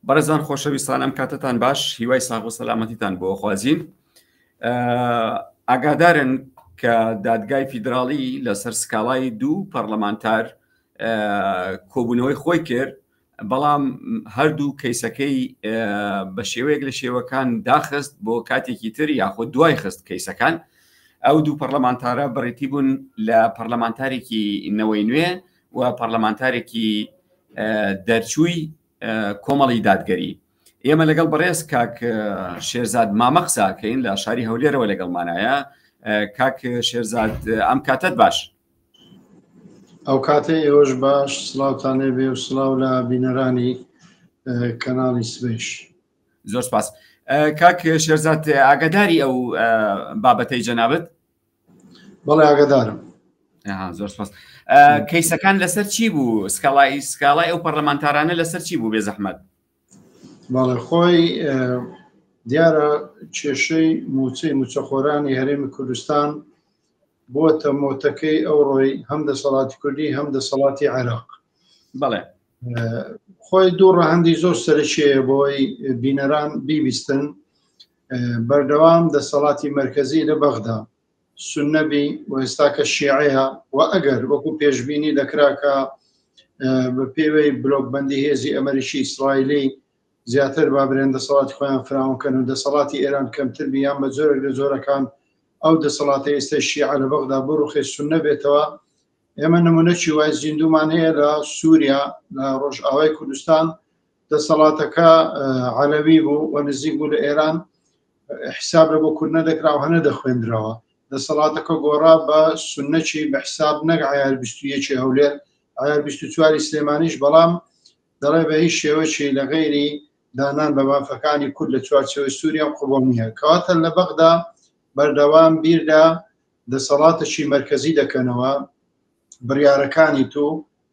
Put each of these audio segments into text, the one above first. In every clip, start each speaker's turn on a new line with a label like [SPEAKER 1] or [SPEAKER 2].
[SPEAKER 1] بەڕێزان خۆشەویستان ئەم کاتتان باش هیوای ساغ و سەلامەتیتان بۆ خوازیین ئاگادارن کە دادگای فیدراڵی لەسەر سکاڵای دوو پەرلەمانتار کۆبوونەوەی خۆی کرد بەڵام هەردوو کەیسەکەی بە شێوەیەک لە شێوەکان داخست بۆ کاتێکی تر یاخود دوای خست کەیسەکان ئەو دوو پەرلەمانتارە بڕیتی بوون لە پەرلەمانتارێکی نەوەی نوێ و پەرلەمانتارێکی دەرچووی کۆمەڵی دادگەری ئێمە لەگەڵ بەڕێز کاک شێرزاد مامە قساکەین لە شاری هەولێرەوە لەگەڵمانایە کاک شێرزاد ئەم کاتت باش
[SPEAKER 2] ئەو کاتێ ئێوەش باش سلااوتانێ بێ و سلااو لە بینەرانی کەناڵی سبش زۆر سپاس
[SPEAKER 1] کاک شێرزات ئاگداری ئەو بابەتەی جەنابەت
[SPEAKER 2] بەڵێ ئاگدارم زۆر
[SPEAKER 1] سپاس کەیسەکان لەسەر چی بوو سکاڵای سکاڵای ئەو پەرلەمانتارانە لەسەر چی بوو بێ زەحمەت بەڵێ
[SPEAKER 2] خۆی دیارە کێشەی موچەی موچەخۆرانی هەرێمی کوردستان بۆتە مۆتەکەی ئەو ڕۆی هەم دەسەڵاتی کوردی هەم دەسەڵاتی عێراق بەڵێ خۆی دوو ڕەهندی زۆر سەرچەیە بۆی بینەران بیبیستن بەردەوام دەسەڵاتی مەرکەزی لە بەغدا سونە بی و ئێستاکە شیعەیە و ئەگەر وەکو پێشببینی دەکراکە بە پێوەی بلۆکبندی هێزی ئەمریکی ئیسرائیلی زیاتر با برێن دەسەڵاتی خۆیان فراونکەن و دەسەڵاتی ئێران کەمتر بیان بە جۆرێک لە جۆرەکان ئەو دەسەڵاتی ئێستا شیعە لە بەغدا بۆ ڕوخێ سونە بێتەوە ئێمە نمونەکی وای زیندومان هەیە لە سووریا لە ڕۆژئاوای کوردستان دەسەڵاتەکە عەلەوی بوو و نزیک بوو لە ئێران حساب لە بۆ کورد نەدەکراوە هەنە دەخوێندرەوە دەسەڵاتەکە گۆڕا بە سنەچی بە حساب نەک عیار بیستویەکی هەولێر عیار بیست چواری سلێمانیش بەڵام دەڵێ بە هیچ شێوەچی لە غێری دانان بە مافەکانی کورد لە چوارچەوەی سووریا و قوبڵ نییە کەواتە لە بەغدا بەردەوام بیردا دەسەڵاتەکی مرکزی دەکەنەوە بڕیارەکانی تو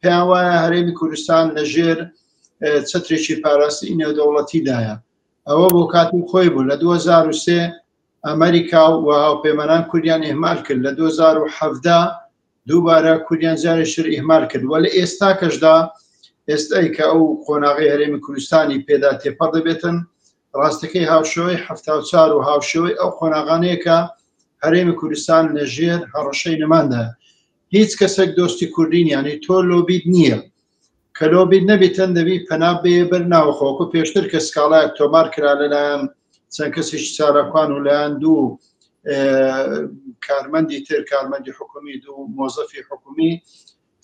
[SPEAKER 2] پێیان وایە هەرێمی کوردستان لەژێر چترێکی پاراستنی نێودەوڵەتیدایە ئەوە بۆ کاتی خۆی بوو لە 2023 ئەمریکا و هاوپەیمانان کوردیان ئێمال کرد لە 2017 دووبارە کوردیان جارێ شر ئیهمال کرد وە لە ئێستا کەشدا ئێستای کە ئەو قۆناغی هەرێمی کوردستانی پێدا تێپەڕ دەبێتن ڕاستەکەی هاوشەوەی ه چار و هاوشەوەی ئەو قۆناغانەیەکە هەرێمی کوردستان لە ژێر هەڕەشەی نەماندا هیچ کەسێک دۆستی کوردی نیە یانی تۆ لۆبیت نییە کە لۆبیت نەبیتەن دەبی پەنا بێ بەر ناوخۆکو پێشتر کە سکاڵایەک تۆمار کرا لەلایەن چەند کەسیش چالاکوان و لایەن دوو کارمەندی تر کارمەندی حکومی دوو مۆزەفی حکومی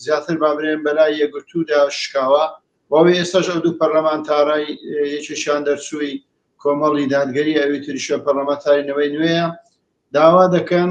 [SPEAKER 2] زیاتر بابرێن بەلای یەگرتوودا شکاوە وەوەی ئێستاش ئەو دوو پەرلەمانتارای یەکێکیان دەرچووی کۆمەڵی دادگەری ئەوی تریشە پەرلەمانتاری نەوەی نوێیە داوا دەکەن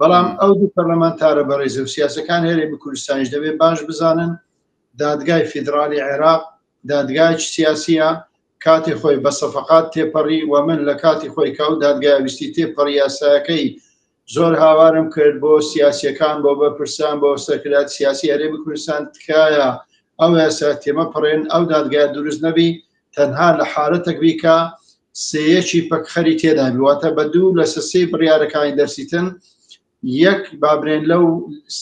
[SPEAKER 2] بەڵام ئەو دوو پەرلەمانتارە بەڕێزە و سیاسەکان هەرێمی کوردستانیش دەبێت باش بزانن دادگای فیدراڵی عێراق دادگایکی سیاسیە کاتی خۆی بە سەفقات تێپەڕی و من لە کاتی خۆی کاو دادگایویستی تێپەڕی یاسایەکەی زۆر هاوارم کرد بۆ سیاسیەکان بۆ بەپرسان بۆ سەرکرات سیاسی هەرێمی کوردستان تکایە ئەو یاسا تێمە پڕێن ئەو دادگای دروست نەبی تەنها لە حالەتەک بی کە سێیەکی پەکخەری تێدا بی واتە بە دوو لەسە سێی بڕیارەکانی دەرسیتن یەک با برێن لەو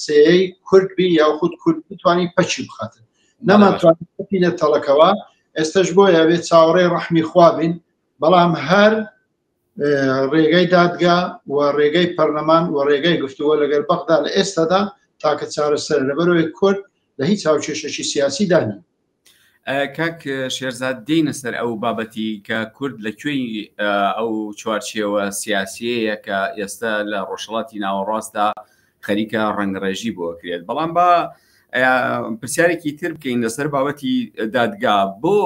[SPEAKER 2] سێیەی کورد بی یاخود کورد بتوانی پەچی بخاتن نەمانتوانی پەکینە تەڵەکەوە ئێستەش بۆیە بێ چاوەڕێ ڕەحمی خوا بین بەڵام هەر ڕێگای دادگا و ڕێگای پەرلەمان و ڕێگای گفتووە لەگەر بەغدا لە ئێستادا تاکە چارەسەر لەبەرەوەی کورد لە هیچ هاوکێشەکی سیاسی دانی
[SPEAKER 1] کاک شێرزاد دێینە سەر ئەو بابەتی کە کورد لە کوێی ئەو چوارچێوە سیاسیەیە کە ئێستا لە ڕۆژهڵاتی ناوەڕاستدا خەریکە ڕەنگڕێژی بۆ کرێت بەڵام با پرسیارێکی تر بکەین لەسەر بابەتی دادگا بۆ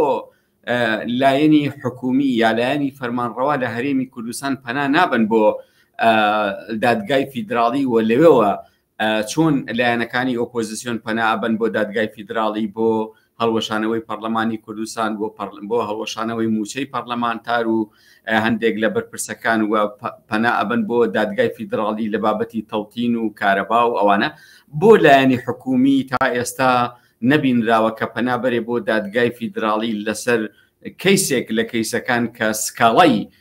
[SPEAKER 1] لایەنی حکومی یا لایەنی فەرمانڕەوا لە هەرێمی کوردستان پەنا نابن بۆ دادگای فیدراڵی و لەوەوە چۆن لایەنەکانی ئۆپۆزسیۆن پەنا ئەبەن بۆ دادگای فیدراڵی بۆ هەڵوەشانەوەی پەرلەمانی کوردستان بۆ بۆ هەڵوەشانەوەی موچەی پەرلەمانتار و هەندێک لە بەرپرسەکان و پەنا ئەبەن بۆ دادگای فیدراڵی لە بابەتی تەوتین و کارەبا و ئەوانە بۆ لایەنی حکومی تا ئێستا نەبینراوە کە پەنابەرێ بۆ دادگای فیدراڵی لەسەر کەیسێک لە کەیسەکان کە سکاڵی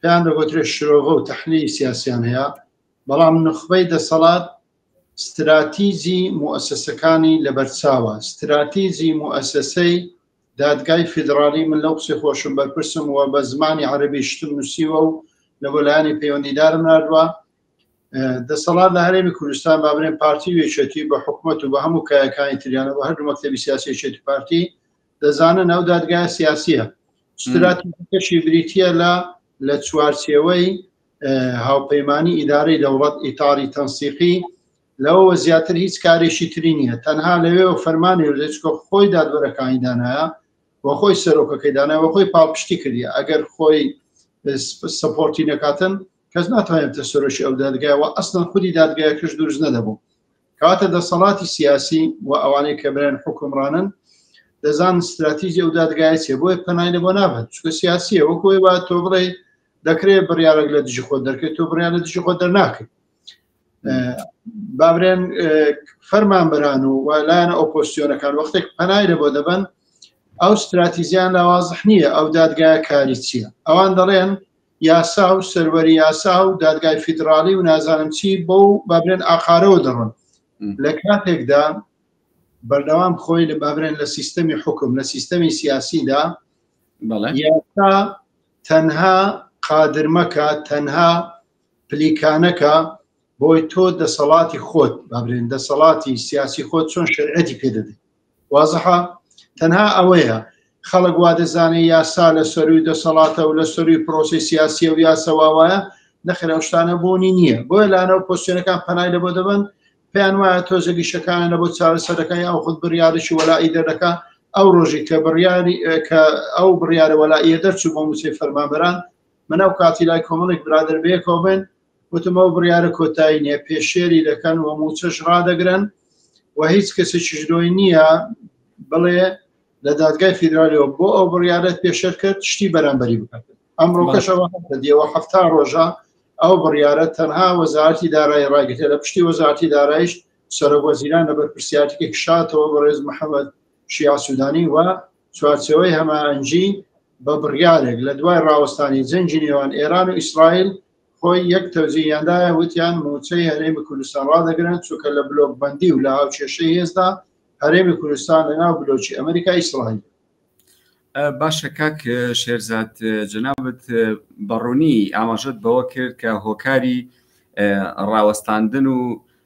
[SPEAKER 2] پێیان دەگۆترێ شرۆڤە و تەحلیلی سیاسیان هەیە، بەڵام نوخبەی دەسەڵات ستراتیجی موئەسەسەکانی لەبەرچاوە، ستراتیجی موئەسەسەی دادگای فیدڕاڵی من لەو قسەی خۆشم بەرپرسم و بە زمانی عەرەبی شتم نووسیوە و لەبۆ لایەنی پەیوەندیدارم ناردووە، دەسەڵات لە هەرێمی کوردستان با بڵێن پارتی و یەکێتی بە حکومەت و بە هەموو کایەکانی تریانەوە هەردوو مەکتەبی سیاسی یەکێتی پارتی دەزانن ئەو دادگایە سیاسیە ستراتیژەکەشی بریتە لە لە چوارچێوەی هاوپەیمانی ئیدارەی دەوڵەت ئیتاری تەنسیقی لەوەوە زیاتر هیچ کارێکی تری نییە تەنها لەوێ و فەرمانی و لەچکۆ خۆی دادوەرەکانی دانایە و خۆی سەرۆکەکەی دانایەوە خۆی پاڵپشتی کردی ئەگەر خۆی سپۆرتی نەکاتن کەس ناتوانێتە سەرۆکی ئەو دادگایەوە ئەسڵەن خودی دادگایەکەش دروست نەدەبوو کەواتە دەسەڵاتی سیاسی و ئەوانەی کە بەیان حکومڕانن دەزان استراتیژی ئەو دادگایە چێ بۆی پەنای لە بۆ نابێت چکە سیاسیە وەکۆی با تۆ بڵێ دەکرێت بڕارێک لە دژی خۆ دەکرێت تۆ بڕیان لە دژی خۆ دەرناکرێت بابرێن فەرمان بەران و وەلایەنە ئۆپۆسیۆنەکان وەختێک پەنای لە بۆ دەبن ئەو استراتیزیان لاوازح نییە ئەو دادگایە کاری چییە ئەوان دەڵێن یاسا و سەروەری یاسا و دادگای فیدراالی و نازانم چی بۆ و بابرێن ئاقارەوە دەڕۆن لە کاتێکدا بەردەوام خۆی لە بابرێن لە سیستەمی حکم لە سیستەمی سیاسیدا یاسا تەنها قادرمەکە تەنها پلیکانەکە بۆی تۆ دەسەڵاتی خۆت بابرێن دەسەڵاتی سیاسی خۆت چۆن شەرعەتی پێ دەدەیت وازحە تەنها ئەوەیە خەڵک وا دەزانێ یاسا لە سەروی دەسەڵاتە و لە سەروی پرۆسی سیاسیە و یاسەواوایە نەخێرا شتانە بوونی نییە بۆیە لانەوە پۆسیۆنەکان پەنای لە بۆ دەبن پێیان وایە تۆزە گیشەکان لە بۆ چارەسەرەکەی ئەو خود بڕیارێکی وەلائی دەردەکە ئەو ڕۆژی کە بڕیاری کە ئەو بڕیارە وەلائە دەرچوو بۆ موچەی فەرمابەران منەو کاتی لای کۆمەڵێک برادر بەیەکەوە بن وتم ئەو بڕیارە کۆتایی نیە پێشێلی دەکەن و موچەش ڕدەگرن و هیچ کەسێکیش لۆی نییە بڵێ لە دادگای فیدرالیەوە بۆ ئەو بڕیارەت پێشەر کرد شتی بەرامبەری بکات ئەمڕۆکەشەوە دیەوە هەفتا ڕۆژە ئەو بڕیارە تەنها وەزارتی دارایی ڕاگرێت لە پشتی وەزارتی دارایش سەرۆک وەزیران لە بەرپرسیارتێکی کشاتەوە بەڕێز محەممەد شیع سوودانی و چوارچەوەی هەمانجی بە بڕیارێک لە دوای ڕاوەستانی جەنگی نێوان ئێران و ئیسرائیل خۆی یەک تەوجیهیان دایە وتیان مووچەی هەرێمی کوردستان ڕادەگرن چونکە لە بلۆکبەندی و لە هاوکێشەی هێزدا هەرێمی کوردستان لەناو بلۆکی ئەمریکا ئیسرائیل
[SPEAKER 1] باشە کاک شێرزاد جەنابەت بەڕوونی ئاماژەت بەوە کرد کە هۆکاری ڕاوەستاندن و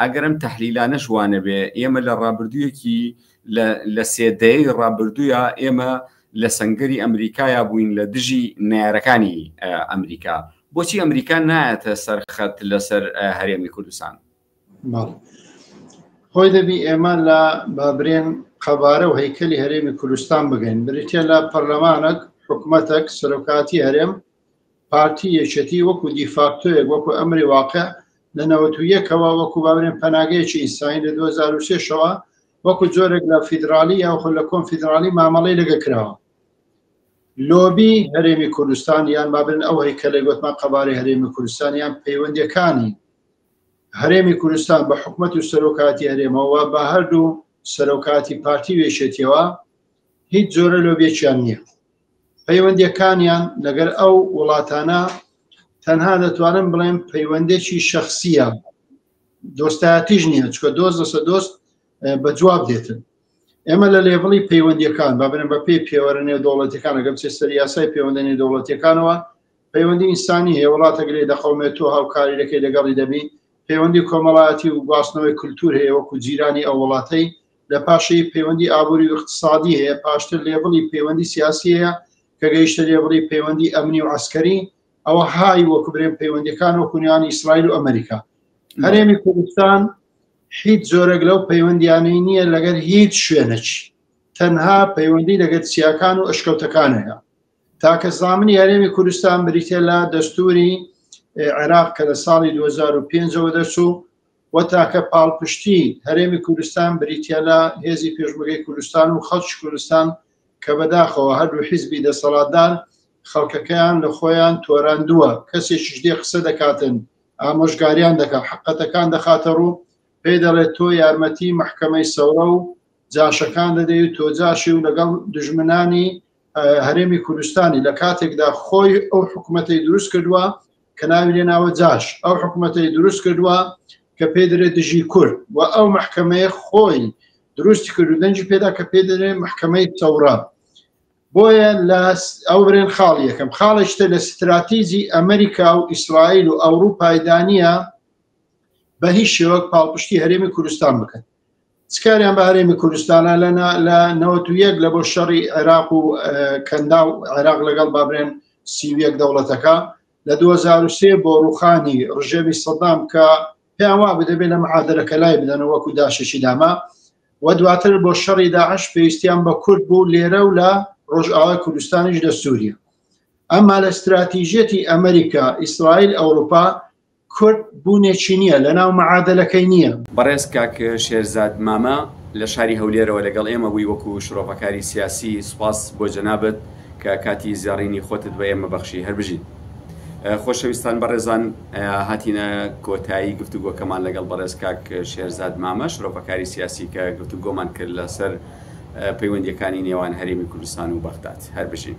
[SPEAKER 1] ئەگەر ئەم تحلیلانەش وانەبێ ئێمە لە ڕابردوویەکی لە سێدەی ڕابردووە ئێمە لە سنگری ئەمریکایا بووین لە دژی نارەکانی ئەمریکا بۆچی ئەمریکا نایەتە سەرخەت لەسەر هەرێمی کوردستان
[SPEAKER 2] خۆی دەبی ئێمە لە بابرێن قەبارە و هەیکەلی هەرێمی کوردستان بگەین بریتە لە پەرلەمانەک حکوومەتەک سەرۆکاتی هەرێم پارتی یەکێتی وەکو دیفاکتۆیەک، وەکو ئەمری واقع لە نەوەد و یەک ەوە، وەکو با بلێن پەناگەیەکی ئینسانی لە دوو هەزار و سێ شەوە، وەکو جۆرێک لە فیدرالی یاخود لە کۆنفیدرالی مامەڵەی لەگەل کراوە. لۆبی هەرێمی کوردستان یان با بلێن ئەو هەیکەلەی گۆتمان قەبارەی هەرێمی کوردستان یان پەیوەندیەکانی هەرێمی کوردستان بە حکومەت و سەرۆکایەتی هەرێمەوە بە هەردوو سەرۆکایەتی پارتی و یەکێتیەوە هیچ جۆرە لۆبیەکیان نیە. پەیوەندیەکانیان لەگەر ئەو وڵاتانە تەنها دەتوانم بڵێم پەیوەندێکی شخصیە دۆستایەتیش نییە چکە دۆست دەسە دۆست بە جواب دێتن ئێمە لە لێڤڵی پەیوەندیەکان با بنە بە پێی پێوەرە نێو دەوڵەتەکان گەم چێ سەر یاسای پەیوەندنی دەوڵەتەکانەوە پەیوەندی ئینسانی هەیە وڵاتە گرێ دەقومێت و هاوکاری دەکەی لەگەڵی دەبی پەیوەندی کۆمەڵایەتی و گواستنەوەی کللتور هەیە وەکو جیرانی ئەو وڵاتەی لە پاشەی پەیوەندی ئابووری و ئیقتسادی هەیە، پاشتر لێڤڵی پەیوەندی سیاسی هەیە کە گەیشتە لێڤڵی پەیوەندی ئەمنی و عەسکەری، ئەوە های وەکو برێن پەیوەندیەکان وەکو نێوان ئیسرائیل و ئەمەریکا. هەرێمی کوردستان هیچ جۆرەک لەو پەیوەندیانەی نییە لەگەر هیچ شوێنەچ تەنها پەیوەندی لەگەر چیاکان و ئەشکەوتەکانەیە تاکە زامنی هەرێمی کوردستان بریتە لە دەستوری عێراق کە لە ساڵی 2005ەوە دەرچوو و تاکە پاڵپشتی هەرێمی کوردستان بریتیە لە هێزی پێشمەرگەی کوردستان و خەڵکی کوردستان کە بەداخەوە هەردوو حیزبی دەسەڵاتدار خەڵکەکەیان لە خۆیان تۆراندووە کەسێکیش دێ قسە دەکاتن ئامۆژگاریان دەکات حقەتەکان دەخاتە ڕوو پێی دەڵێت تۆ یارمەتی محکەمەی سەورە و جاشەکان دەدەی و تۆجاشی و لەگەڵ دژمنانی هەرێمی کوردستانی لە کاتێکدا خۆی ئەو حکوومەتی دروست کردووە کە ناوی لێناوە جاش ئەو حکوومەتەی دروست کردووە کە پێ درێت دژی کورد و ئەو محکمەیە خۆی دروستی کرد و دەنجی پێدا کە پێ دەێ محکمەی تەورە بۆیە لە ئەو برێن خاڵ یەکەم خاڵشتە لە ستراتیزی ئەمریکا و ئیسرائیل و ئەوروپایدانە بە هیچ شێوەک پاڵپشتی هەرێمی کوردستان بکەن چ کاریان بە هەرێمی کوردستانە لە لە نەوەت و یەک لە بۆ شەڕی عێراق و کەندا و عێراق لەگەڵ بابرێن سیویەک دەوڵەتەکە لە 2023 بۆ ڕوخانی ڕژێمی سەدام کە پێیان وا بدەبێت لە معادلەکە لای بدەنە وەکو داشێکی داما و دواتر بۆ شەڕی داعش پێویستیان بە کورد بوو لێرە و لە ڕۆژئاوای کوردستانیش لە سووریە ئەمما لە استراتیژیەتی ئەمریکا ئیسرائیل ئەوروپا کورد بوونێکی نییە لەناو مەعادەلەکەی نییە. بەڕێز کاک
[SPEAKER 1] شێرزاد مامە لە شاری هەولێرەوە لەگەڵ ئێمە بووی وەکو شرۆڤەکاری سیاسی، سوپاس بۆ جەنابت کە کاتی زێڕینی خۆتت بە ئێمە بەخشی، هەر بژیت. خۆشەویستان بەڕێزان هاتینە کۆتایی گفتوگۆکەمان لەگەڵ بەڕێز کاک شێرزاد مامە شرۆڤەکاری سیاسی کە گفتوگۆمان کرد لەسەر پەیوەندیەکانی نێوان هەرێمی کوردستان و بەغداد هەر بژین.